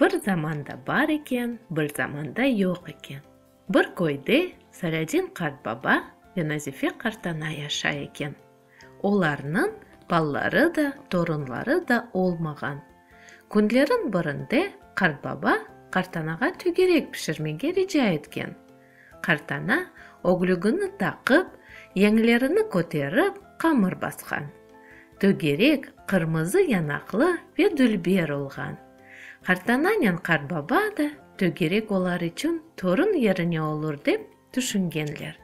Bir zamanda bar eken, bir zamanda yoq eken. Bir köyde Saladin qartbaba ve Nazife qartana yaşay eken. Olarnıñ balaları da, torunları da olmağan. Künlerin birinde qartbaba qartanağa tügerek pişirmege rica etken. Qartana, öglügini taqıp, yeñlerini köterip, qamır basqan. Tögerek, qırmızı yanaqlı ve dülber olğan. Qartananen qartbaba da tögerek olar içün torun yerine olur dep tüşüngenler.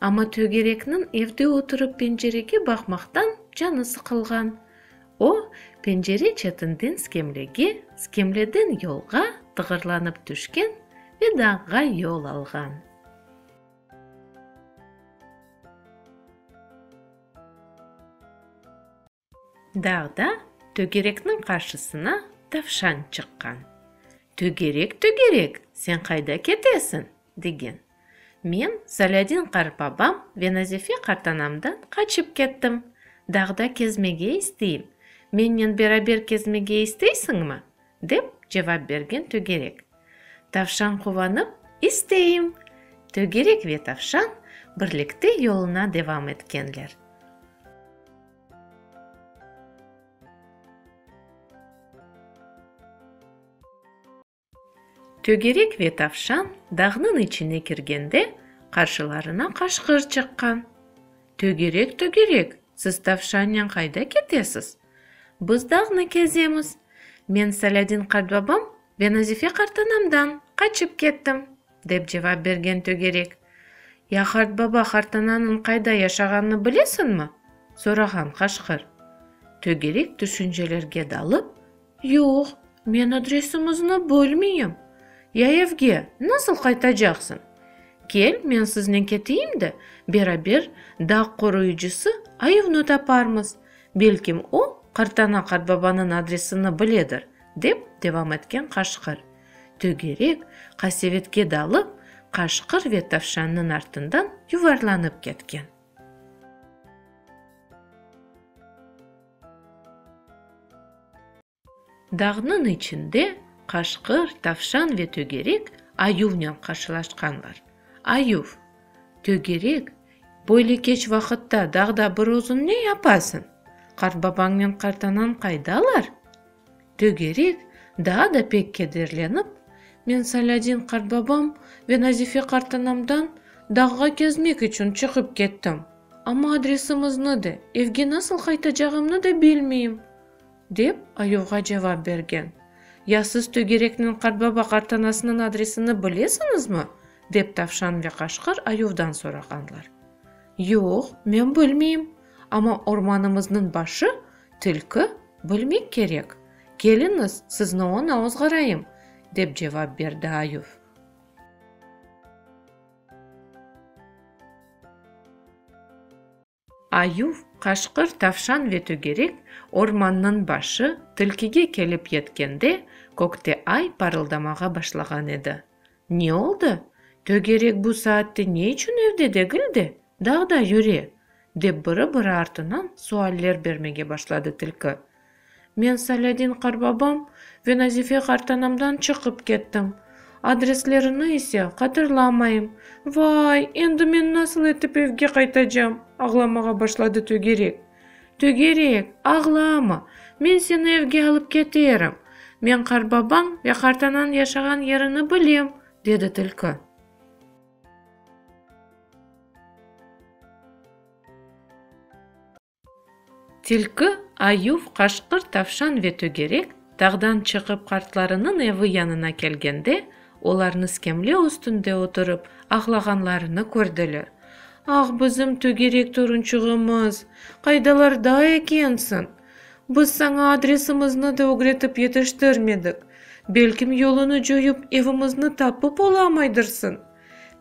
Amma tögerekniñ evde oturıp pencerege baqmaqtan canı sıqılğan. O, pencere çetinden skemlege, skemleden yolğa tığırlanıp tüşken ve dağğa yol alğan. Dağda tögerekniñ qarşısına tavşan çıqqan. Tögerek, tögerek, sen qayda ketesiñ? degen. Men Zalâdin qarıpabam ve Nazife qartanamdan qaçıp kettim. Dağda kezmege isteyim. Mennen beraber kezmege isteysiñmi? dep cevap bergen tögerek. Tavşan quvanıp, İsteyim! Tögerek ve tavşan birlikte yoluna devam etkenler. Tögerek ve tavşan dağnıñ içine kirgende, qarşılarına qaşqır çıqqan. Tögerek, tögerek, siz tavşannen qayda ketesiz? Biz dağnı kezemiz. Men Salâdin qartbabam ve Nazife qartanamdan qaçıp kettim. Dep cevap bergen tögerek. Ya qart baba, qartananıñ qayda yaşağanını bilesiñmi? sorağan qaşqır. Tögerek tüşüncelerge dalıp, Yoq, men adresiñizni bilmeyim. Ya evge nasıl qaytacaqsıñ? Kel, men siznen keteyim de, beraber dağ qoruyıcısı Ayuvnı taparmız. Belkim o, qartana qartbabanıñ adresini biledir, dep devam etken qaşqır. Tögerek qasevetke dalıp, qaşqır ve tavşannıñ artından yuvarlanıp ketken. Dağnıñ içinde qaşqır, tavşan ve tögerek ayuvnen qarşılaşqanlar. Ayuv, Tögerek, böyle keç vaqıtta dağda bir özüñ ne yapasıñ? Qartbabañnen qartanañ qaydalar? Tögerek daa da pek kederlenip, men Salâdin qartbabam ve Nazife qartanamdan dağğa kezmek içün çıqıp kettim. Amma adresimıznı de, evge nasıl qaytacağımnı da bilmeyim, dep ayuvğa cevap bergen. Ya siz tögerekniñ qartbaba-qartanasınıñ adresini bilesiñizmi? dep tavşan ve qaşqır ayuvdan sorağanlar. Yoq, men bilmeyim, amma ormanımıznıñ başı Tilki, Bilmek kerek, keliñiz, sizni oña ozğarayım, dep cevap berdi ayuv. Ayuv, qaşqır, tavşan ve tögerek ormannıñ başı tilkige kelip yetkende, kökte ay parıldamağa başlağan edi. Ne oldı? Tögerek bu saatte ne içün evde degil de, dağda yüre? dep biri-biri artınan sualler bermege başladı tilki. Men Salâdin qarbabam ve Nazife qartanamdan çıqıp kettim. Adreslerini ise hatırlamayım. Vay, endi men nasıl etip evge qaytacam? ağlamağa başladı tögerek. Tögerek, ağlama, men seni evge alıp keterim. Men qartbabañ ve qartanañ yaşağan yerini bilem, dedi tilki. Tilki, ayuv, qaşqır, tavşan ve tögerek Tağdan çıqıp qartlarınıñ evi yanına kelgende, olarnı skemle üstünde oturıp ağlağanlarını kördiler. Ah, bizim tögerek torunçığımız, qaydalarda ekensiñ? Biz saña adresimizni de ögretip yetiştirmedik. Belkim yoluñı coyıp evimizni tapıp olamaydırsiñ?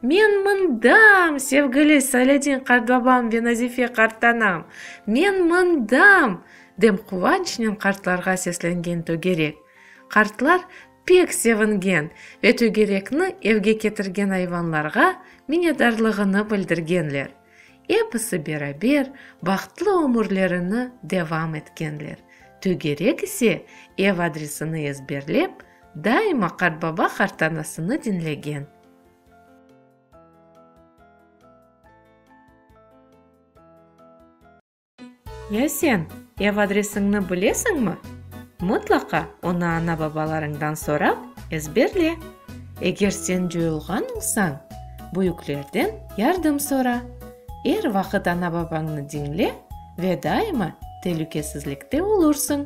Men mındam, sevgili Saledin qartbabam ve Nazife qartanam, men mındam! dem quvançnen qartlarğa seslengen tögerek. Qartlar pek sevingen ve tögerekni evge ketirgen ayvanlarğa minedarlığını bildirgenler. Episi beraber bahtlı ömürlerini devam etkenler, tögerek ise ev adresini ezberlep, Daima qartbaba qartanasını diñlegen. Ya sen ev adresiñni bilesiñmi? Mıtlaqa onı ana-babalarıñdan sorap, ezberle. Eger sen coyulğan olsañ, büyüklerden yardım sora. Er vaqıt ana-babañnı diñle ve daima telükesizlikte olursıñ.